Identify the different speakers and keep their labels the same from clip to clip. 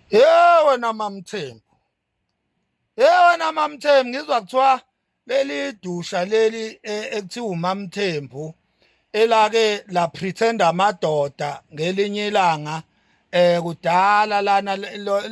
Speaker 1: Hey wena mamthembu. Hey wena mamthembu ngizwa kuthiwa leli dusha leli e, ekuthiwa umamthembu elake la pretender amadoda ngelinye ilanga eh kudala lana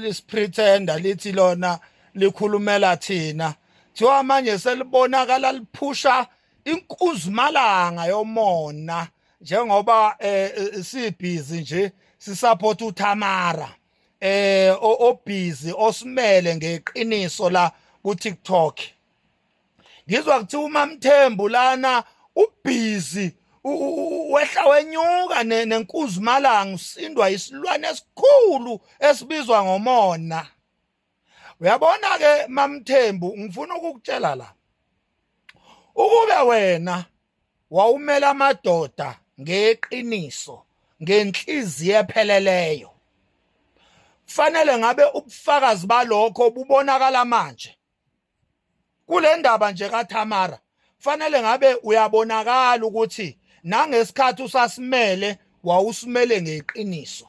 Speaker 1: lisipretender lithi lona likhulumela thina thiwa manje selibonakala liphusha inkuzumalanga yomona njengoba eh, eh sibhizi nje sisupport uThamara eh obhizi osimele ngeqiniso la ku TikTok ngizwa kuthi umamthembu lana ubhizi wehla wenyuka nenkuzimalanga usindwa isilwane esikhulu esibizwa ngomona uyabona ke mamthembu ngifuna ukukutshela la ukube wena wawumela amadoda ngeqiniso ngenhliziyo epheleleyo fanele ngabe ubufakazi balokho bubonakala manje kule ndaba nje kaThamara fanele ngabe uyabonakala ukuthi nangesikhathi usasimele wawusimele ngeqiniso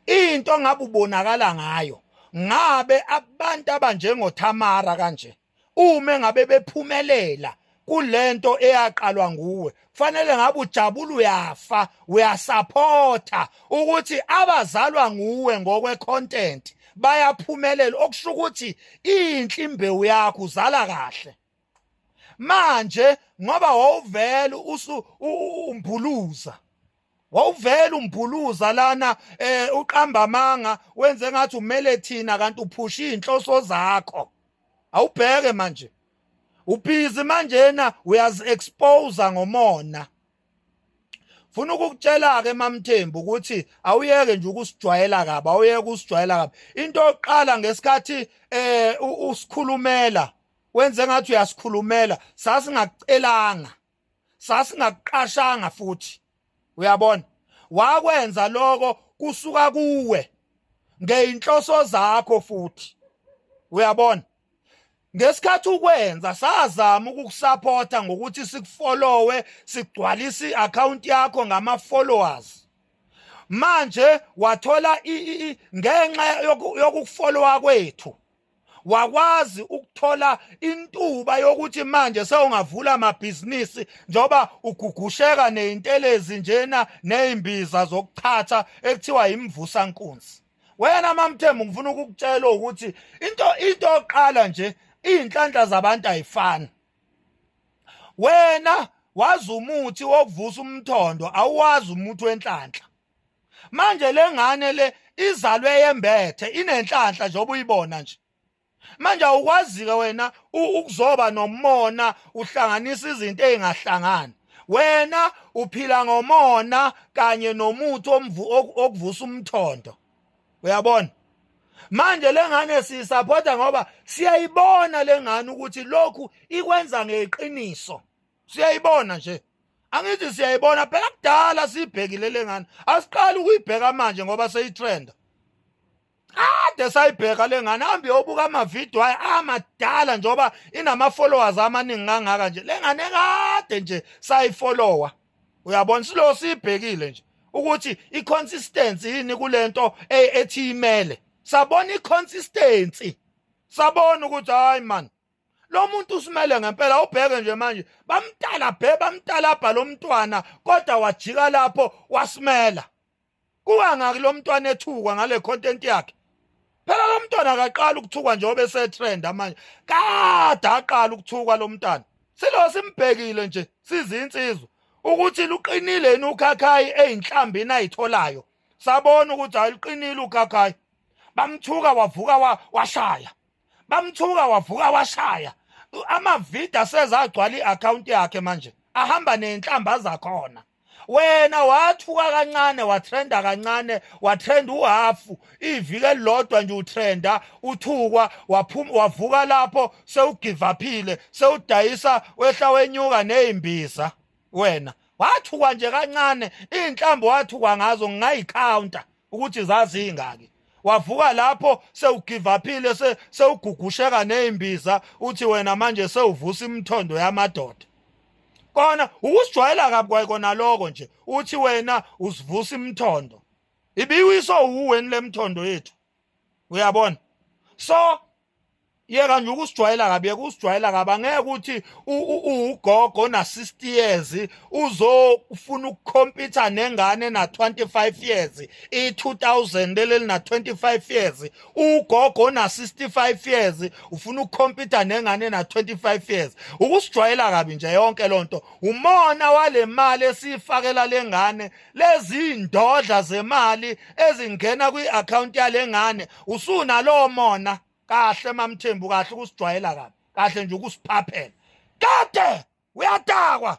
Speaker 1: into ngabe ubonakala ngayo ngabe abantu abanjengoThamara kanje uma ngabe bephumelela kulento eyaqalwa nguwe kufanele ngabe ujabula uyafa uyasaphotha ukuthi abazalwa nguwe ngokwe content bayaphumelela okusho ukuthi inhle imbewu yakho uzala kahle manje ngoba wawuvela usu umbhuluza wawuvela umbhuluza lana eh uqamba amanga wenze ngathi umele thina kanti uphusha izinhloso zakho awubheke manje ubhizi manje yena uyazi expose ngomona Funa ukukutshela ke mamthembu ukuthi awuyeke nje ukusijwayela kabi awuyeke ukusijwayela kabi into oqala ngesikhathi eh usikhulumela wenze ngathi uyasikhulumela sasingakucelanga sasingakuqashanga futhi uyabona wakwenza lokho kusuka kuwe ngeinhloso zakho futhi uyabona ngesikhathi ukwenza sazama ukukusupporta ngokuthi sikufollowe sigcwalise i-account yakho ngama-followers manje wathola ngenxa yokufollowa kwethu wakwazi ukuthola intuba yokuthi manje sewungavula amabhizinisi njengoba ugugusheka neyintelezi njena nezimbiza zokuchatha ekuthiwa imvusa nkunzi wena mamthembu ngifuna ukukutshela ukuthi into into oqala nje izinhlanhla zabantu ayifani wena wazi umuthi wokuvusa umthondo awuwazi umuthi wenhlanhla manje lengane le izalwe yembethe inenhlanhla nje obuyibona nje manje awukwazike wena ukuzoba nomona uhlanganisa izinto ezingahlangani wena uphila ngomona kanye nomuthi omvu okuvusa umthondo uyabona manje lengane siyisapota ngoba siyayibona lengane ukuthi lokhu ikwenza ngeqiniso siyayibona nje angithi siyayibona phela kudala siyibhekile lengane asiqali ukuyibheka manje ngoba seyitrenda kade sayibheka lengane hambe yobuka amavidiyo ayo amadala njengoba inama-followers amaningi kangaka nje lengane kade nje sayifollowa uyabona silo siyibhekile nje ukuthi i-consistency yini kule nto e, ethi imele sabona i-consistency sabona ukuthi hayi mani lo muntu usimele ngempela ubheke nje manje bamtala bhe bamtalabha lo mntwana kodwa wajika lapho wasimela kuwa ngaki lo mntwana ethukwa ngale content yakhe phela lo mntwana akaqala ukuthukwa njengoba esetrend manje kade aqala ukuthukwa lo mntwana silo simbhekile nje sizinsizwa ukuthi luqinile yini ukhakhayi eyinhlambi nayitholayo sabona ukuthi ayiqinile ukhakhayi bamthuka wavuka washaya bamthuka wavuka washaya amavida sezagcwala i-account yakhe manje ahamba nenhlamba zakhona wena wathuka kancane watrenda kancane watrenda uhafu iviki elilodwa nje utrenda uthukwa waphuma wavuka lapho sewugivaphile sewudayisa wehla wenyuka nezimbiza wena wathukwa nje kancane inhlambo wathukwa ngazo ngingayicounter ukuthi zazingaki wavuka lapho sewugivaphile sewugugusheka nezimbiza uthi wena manje sewuvusa imthondo yamadoda kona ukusijwayela kabi kwayikona lokho nje uthi wena usivusa imthondo ibiwiso uweni lemthondo yethu uyabona so yeka nje ukusijwayela kabi yeka usijwayela kabi angeke ukuthi ugogo na 60 years uzofuna ukukhompyutha nengane na 25 years i 2000 leli na 25 years ugogo na 65 years ufuna ukukhompyutha nengane na 25 years ukusijwayela kabi nje yonke lonto umona walemali esifakela lengane lezindodla zemali ezingena kwi-account yalengane usunalowo mona kahle mamthembu kahle ukusijwayela kabi kahle nje ukusiphaphela kade uyatakwa